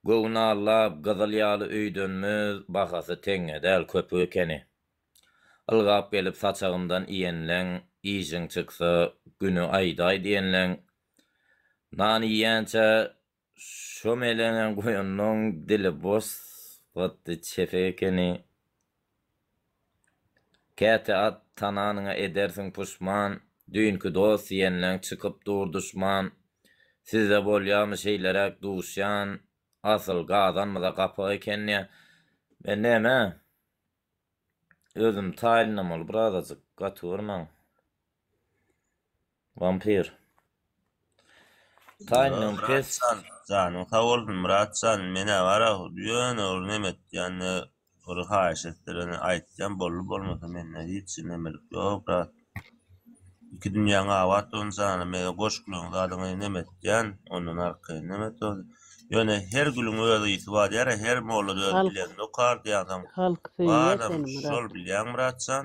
Göwün allap gyzyl ýaly öýdönmez bahasy teňňe däl köpük ekeni. Ylgap gelip saçagymdan iýenleň işiň çyksa güni aýdaý diýenleň nan iýýänçä şo meleňe goýanlaň dili boş zady çepe ekeni. Käte at tananyňa edersiň puşman, Düýnki dost diýenleň çykyp dur duşman. Sizde bolýamy şeýleräk duşýan, Asyl gazanmyza gapak ekenýä. Men näme, özüm taýynlanmaly birazajyk, gatywurmaň. Vampir. Taýyndan pes. Myratjan janyň sag bolsun Myratjan menä bara ýöne ol neme etýänini bir haýyş etdireni aýtýan boldy bolmasa mende hiç nemelik ýok brat iki dünýäň abat bolsun jana mege goş gülüň zadyňy neme etýän ondan arkaýyn neme et ol ýöne her gülüň öz ysy bar ýara her molla öz bilenini okar diýansoň Halk söýýä seni Myrat. Şol bilýäň Myratjan.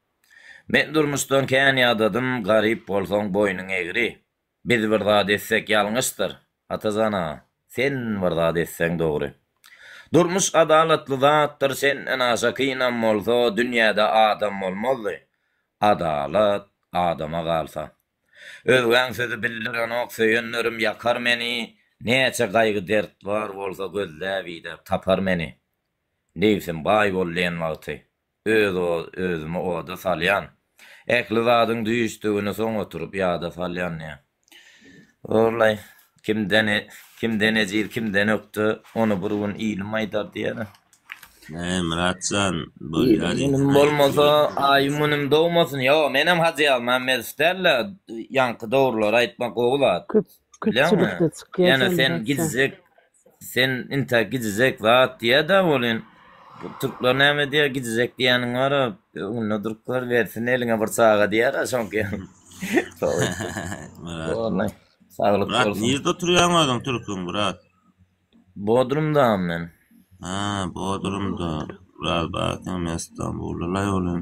Men durmuşdan kän ýadadym, Garyp bolsaň boýnuň egri. Biz bir zat etsek ýalňyşdyr, Atajan aga, sen bir zat etseň dogry. Durmuş adalatly zatdyr, senden aşa kynam bolsa, dünýäde adam bolmazdy. Adalat adama galsa. Özgäň sözi bildirenok, söýenlerim ýakar meni, Näçe gaýgy-dert bar bolsa, gözläp-idäp tapar meni. Nebsim baý bol diýen wagty, Öz özümi oda salýan. Ähli zadyň düýşdügini soň oturyp ýada salýan diýýä. Orlaý, kimden kimden ejiz, kimden ökde, ony bir gün ilim aýdar diýýär. Näme Myratjan, bolýar diýýän. Ilim bolmasa, aýym-günüm dogmasyn. Ýok, menem Hajyýaly Mämmedow däl-de, ýaňky dogrulary aýtmak gowy zat. Köpçülikde çykýar. Ýöne sen gijjek Sen inta gijizek zat diýäda welin türkler näme diýär gijizek diýäniň bara öňünde durup gör bersin eliňe bir çaga diýära şoňky ýaly. Myrat. Bolay. Saglyk Myrat bolsun. nirde oturýaň özüň türküň Myrat? Bodrumdam men. Ha, Bodrumda. Myrat batyň men Stambulda laý welin.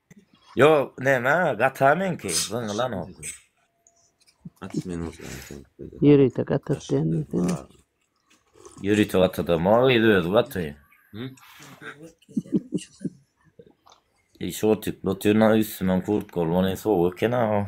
Yo näme gata meňki zyňylanok. At men otyň. Ýörite gatat diýen sen. Ýörite gatatam o gyz özi gaty. Şortik lotyna üstüme kurtka olman sowuk eken ha.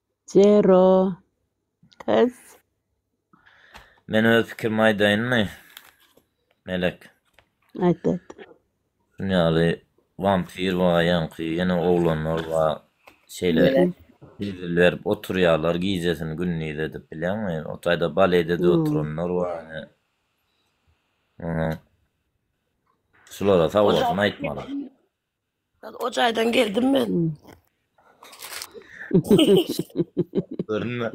Zero. Kız. Men öz pikirimi aýdaýynmy? Melek. Aýt aýt. Şun ýaly wampir bar, ýaňky ýene oglanlar bar. Şeýle Melek. bezil berip oturýarlar gijesini gündiz edip bilýäňmi? O taýda baledede Hmm. oturanlar bar ýene. Ynha. Şulara sag bolsun aýtmalar. Hal o jaýdan geldim men. Görünme.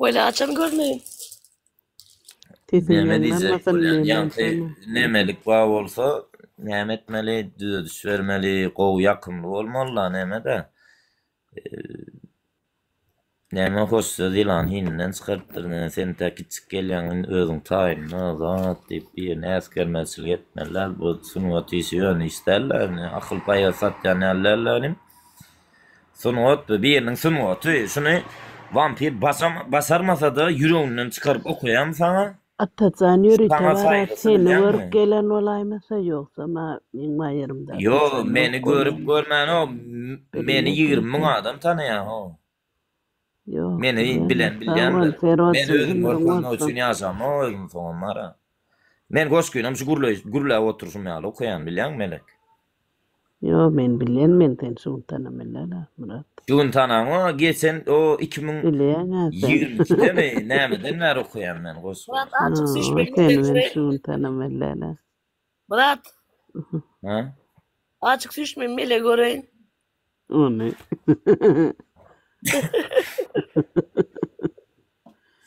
Böyle açam görmeyin. Sesiň Näme ýaňlanmasyn, diýjek bolýan? näme Ýagty ýaňlanmasyn. nämelik bar bolsa, näme etmeli, düzediş bermeli, gowy, ýakymly bolmaly, näme-de. Näme hoşsöz ýylan hininden çykarypdyr näme sen tä kiçik gelýäň indi özüň taýynla zat diýip birine äsgermezçilik etmezler bu sungat işi ýöne iş dälda indi akyl paýa satýan ýaly dälda inim sungat bu biriniň sungaty şuny wampir basarmasada ýüreginden çykaryp okaýarmy saňa Atajan ýöri Saňa towara saýgysy seni bilýäňmi? görüp gelen bolaýmasa ýogsam a meň maýerymda Ýo, atajan meni ýok görüp bolýamy. görmäno, m- meni Bilmek ýigrimi müň ýeter. adam tanaýaho. Ýok Meni bilen bilýänok. Sag bol bilýändir. Men Ferozjyň özüm ömrüň görkeznok bolsun. üçin ýaşamok özüm soňam bara. Men goşgyny hem şu gürleýiş gürläp oturşym ýaly okaýan bilýäňmi Melek. Ýok men bilýän men sen şuntana mellala Myrat. Şuntana o geçen o iki müň ýigrimi ikidemi nämeden bäri okaýan men goşgy. Ýok seni men şuntana mellala. Myrat. Hä. Açyk süýş men mele göreýin. Ony.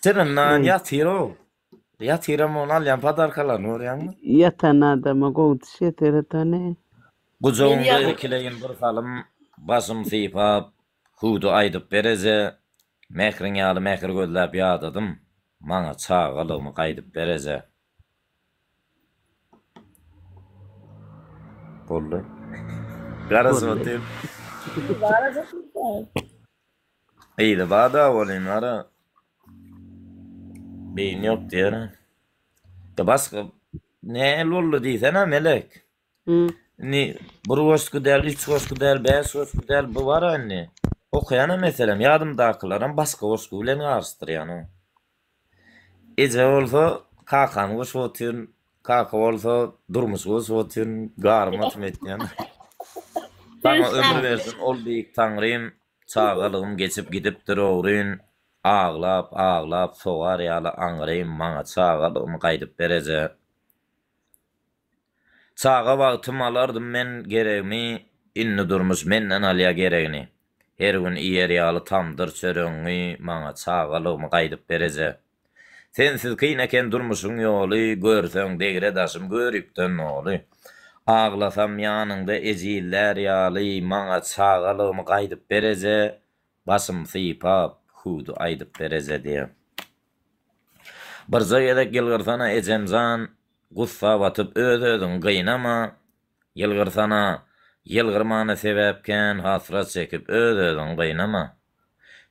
Syryndan ýatyr o. Ýatyram ony alýan padarkalaryny görýäňmi? Ýatan adama gowy diş ýeter etany. Gujagyňda ekileýin bir salym başym sypap hüwdi aýdyp bereze Mähriň ýaly mähir gözläp ýadadym maňa çagalygymy gaýdyp bereze Boldy. Garaz otyr. Garaz otyr. Gyzy bada welin ara beýni ýok diýerin. Da başga nähili boldy diýsene Melek. Hı. Indi bir goşgy däl, üç goşgy däl, bäş goşgy däl bu bara indi. Okaýanam meselem ýadymdakylaram başga goşgy bilen garyşdyrýan. Eje bolsa kakany goşup otyryn, kaka bolsa durmuşy goşup otyryn, garyma syn etýän. Saňa ömür bersin ol beýik Taňrym, çagalygym geçip gidipdir ogryn, aglap, aglap sogar ýaly aňrym, maňa çagalygymy gaýdyp ber eje. Çaga wagtym alardym men geregmi indi durmuş menden alýa geregini her gün iýer ýaly tamdyr çöregiňi maňa çagalygymy gaýdyp bereje sensiz kyn eken durmuşyň ýoly görseň degre daşym göripden noly aglasam ýanyňda ejizlär ýaly maňa çagalygymy gaýdyp bereje Başym sypap hüwdi aýdyp berejedi. Birje gezek ýylgyrsana ejemjan, gussa batyp öz özüňi gynama, ýylgyrsana, ýylgyrmana sebäp kän hasrat çekip öz özüňi gynama.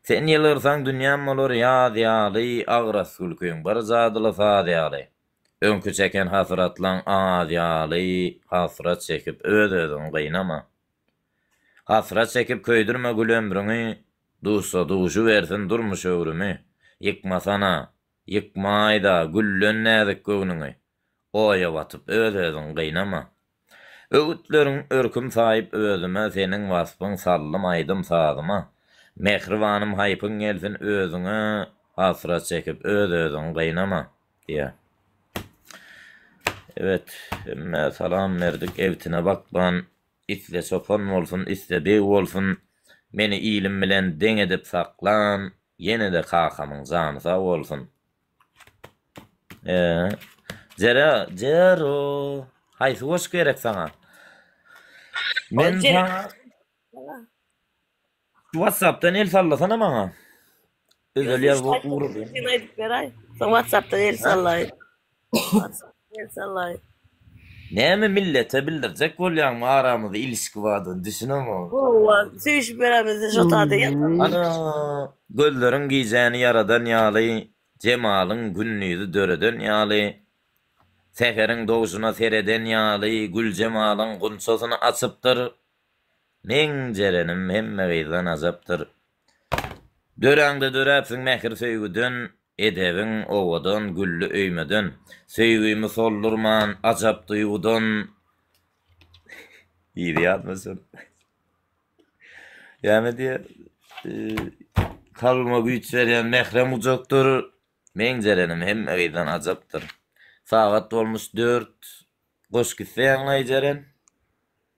Sen ýylgyrsaň dünýäm bolar ýaz ýaly agras gülkiň bir jadyly saz ýaly, öňki çeken hasratlaň az ýaly hasrat çekip öz özüňi gynama. Hasrat çekip köýdürme gül ömrüňi, Duşsa duşy bersin durmuş öwrümi. Ýykmasana, ýykmaý-da güllen näzik göwnüňi, Oýa batyp öz-özüň gynama. Öwütleriň örküm saýyp özüme, Seniň waspyň saldym aýdym-sazyma. Mähribanym haýpyň gelsin özüňe, Hasrat çekip öz-özüň gynama. Diýýär. Ebet, hemmä salam berdik, ebtine bakman Iste çopan bolsun, iste beg bolsun, meni ilim bilen deň edip saklan, ýene-de kakamyň jany sag bolsun. E, Jera, Jero, haýsy goşgy gerek saňa? Men saňa Şu WhatsApp'dan el sallasana maňa. Özel ýazgy ugrady. Sen aýdyp beräý. Sen WhatsApp'dan el sallaý. WhatsApp'dan el sallaý. Näme millete bildirjek bolýaňmy aramyzda ilişki bardygyny düşünemok. Howwa, söýüşip ýörämiz şo taýda ýatyp. Ana, gözleriň gijäni ýaradan ýaly, jemalyň gündizi döreden ýaly, säheriň dogşuna sereden ýaly, güljemalyň gunçasyny açypdyr, Meň jerenim hemme gyzdan ajapdyr. Döräňde döräpsiň mähir söýgüden, Edebiň owadan, gülli öýmeden. Söýgümi soldurman, ajap duýgudan, Yzy ýatmasyn. Ýa-me diýýär, Kalbyma güýç berýän mährem gujakdyr, Meň jerenim hemme gyzdan ajapdyr. Sagat bolmuş dört, Goş gitse ýaňlaý jeren.